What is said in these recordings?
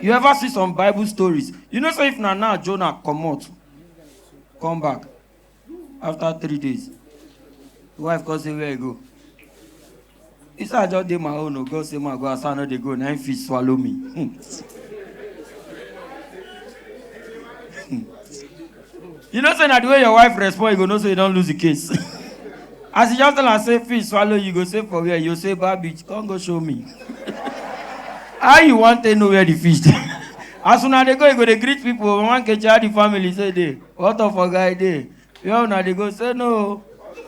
you ever see some bible stories you know say if na now jonah comot come back after three days the wife come say where you go he say i just dey my own o god say ma go as i no dey go na him fit swallow me. Hmm. You know say na the way your wife respond you go know say you don lose the case. As you just tell am say fish swallow you go say for where you say bad bitch come go show me. How you wan take know where the fish dey? As una dey go you go dey greet people oh, mama Nkechi how the family say dey? What of oga e dey? Where una dey go say no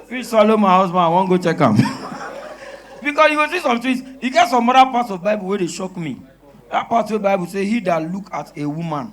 fish swallow my husband I wan go check am. Because you go see some things e get some other parts of bible wey dey shock me. That part wey bible say he that look at a woman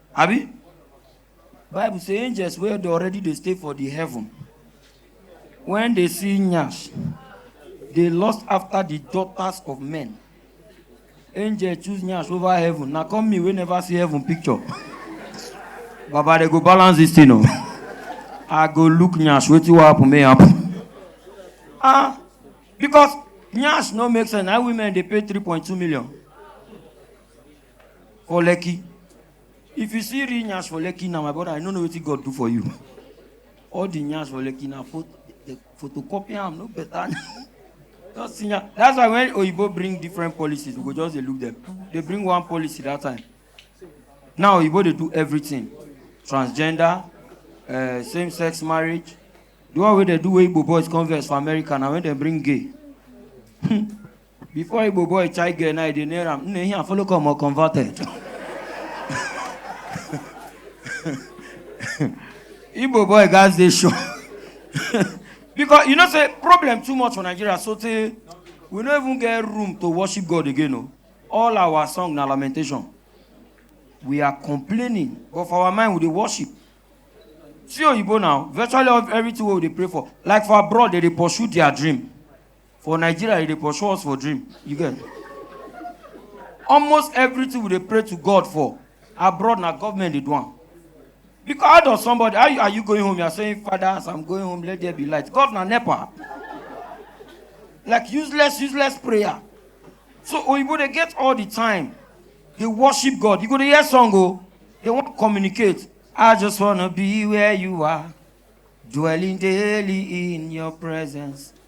abi bible say angels wey dey already dey stay for the heaven when they see nyash they lust after the daughters of men angel choose nyash over heaven na come me wey never see heaven picture baba dey go balance this thing o i go look nyash wetin wan happen may happen ah because nyash no make sense na women dey pay three point two million for lekki if you see real nyash for lekki now my brother i no know wetin god do for you all the nyash for lekki na pho the photocopy am no better just see nyash that's why when oyibo bring different policies we go just dey look them they bring one policy that time now oyibo dey do everything transgender uh, same sex marriage the one wey dey do wey igbo boys come vex for america na when dem bring gay Before Igbo boy chai girl now, they near him. Nne here follow come or converted. Igbo boy guys they show. because you know say problem too much for Nigeria so tey we no even get room to worship God again o. All our song na lamentation. We are complaining but for our mind we dey worship. See oyibo now virtually all- everything wey we dey pray for like for abroad they dey pursue their dream. For Nigeria, e dey pursue us for dream. You get? Almost everything we dey pray to God for abroad na government dey do am. Because how does somebody how you, are you going home? You are saying, Father, as I'm going home, let there be light. God na nepa. Like useless, useless prayer. So Oyibo dey get all the time. They worship God. You go dey hear song o. They wan communicate. I just wanna be where you are, dwelling daily in your presence.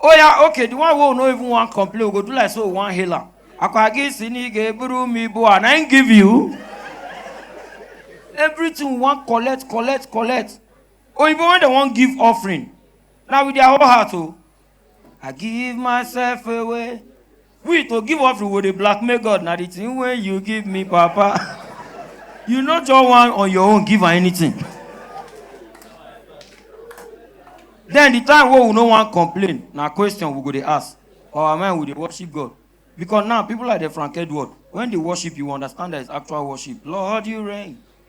Oh yeah, okay, the one who no even want complain, we go do like so we want healer. Akwagi sini ge buru mi bo and I ain't give you. Everything we want collect, collect, collect. Oh, even when they want give offering, now with their whole heart, oh, I give myself away. we to give offering we dey blackmail god na the thing wey you give me papa you no just wan on your own give am anything then the time wey we no wan complain na question we go dey ask for our mind we dey worship god because now people like the frank edward when they worship you understand that it's actual worship lord you reign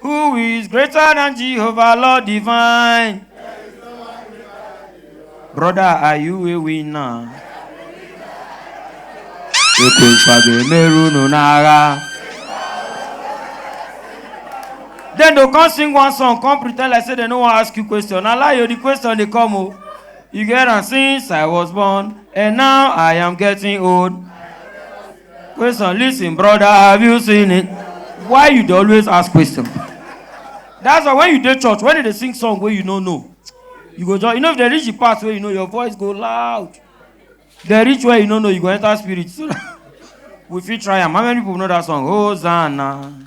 Who is greater than Jehovah, Lord divine? Brother, are you a winner? Ekwenfa ga-emeru unu n'agha. Then they come sing one song, come pretend like say they no wan ask you question. Na lie o, the question dey come o. You get am since I was born and now I am getting old. Question, listen, brother, have you seen it? Why you dey always ask question? That's why when you dey church, when they dey sing song wey you no know, you go just, you know if they reach the part where you know your voice go loud. They reach where you no know, you go enter spirit. So that we fit try am. How many people know that song? Hosanna.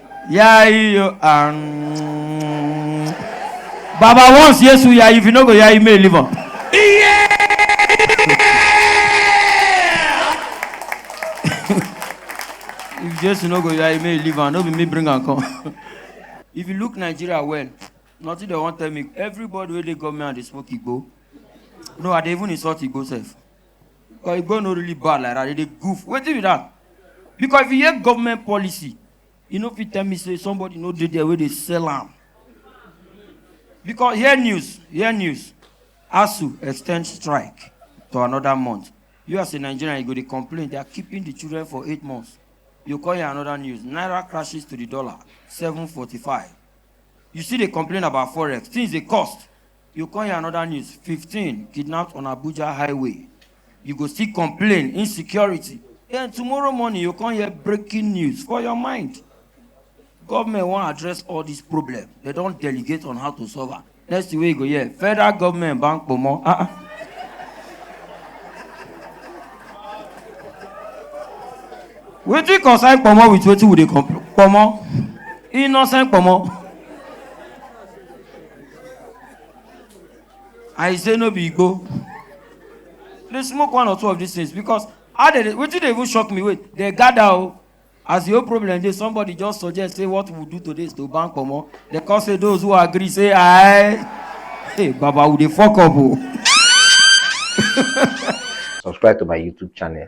Yeah, you um, Baba once yes we are if you no go yeah you may live on. Yeah. if Jesus no go yeah you may live on. No be me bring and come. if you look Nigeria well, nothing they want tell me. Everybody where they come here and they smoke igbo. No, I dey even insult igbo self. But e go no really bad like that, they dey goof. Wetin be that? Because if you hear government policy, you no fit tell me say somebody no dey there wey dey sell am. Because hear news, hear news. ASUU extend strike to another month. You as a Nigerian, you go dey complain they are keeping the children for eight months. You call here another news. Naira crashes to the dollar, 745. You still dey complain about forex. Things dey cost. You come hear another news, 15 kidnapped on Abuja highway. You go still complain, insecurity. Then tomorrow morning, you come hear breaking news for your mind. Government wan address all this problem. They don delegate on how to solve am. Next thing wey you go hear, federal government ban kpomo. Ah, ah. Wetin concern kpomo with wetin we dey complain? Kpomo, innocent kpomo. I say no be Igbo. They smoke one or two of these things because how they wetin dey even shock me wait they gather o oh. as the whole problem dey somebody just suggest say what we do today is to ban comot they come say those who agree say aye hey baba we dey fok up o. Oh. subscribe to my youtube channel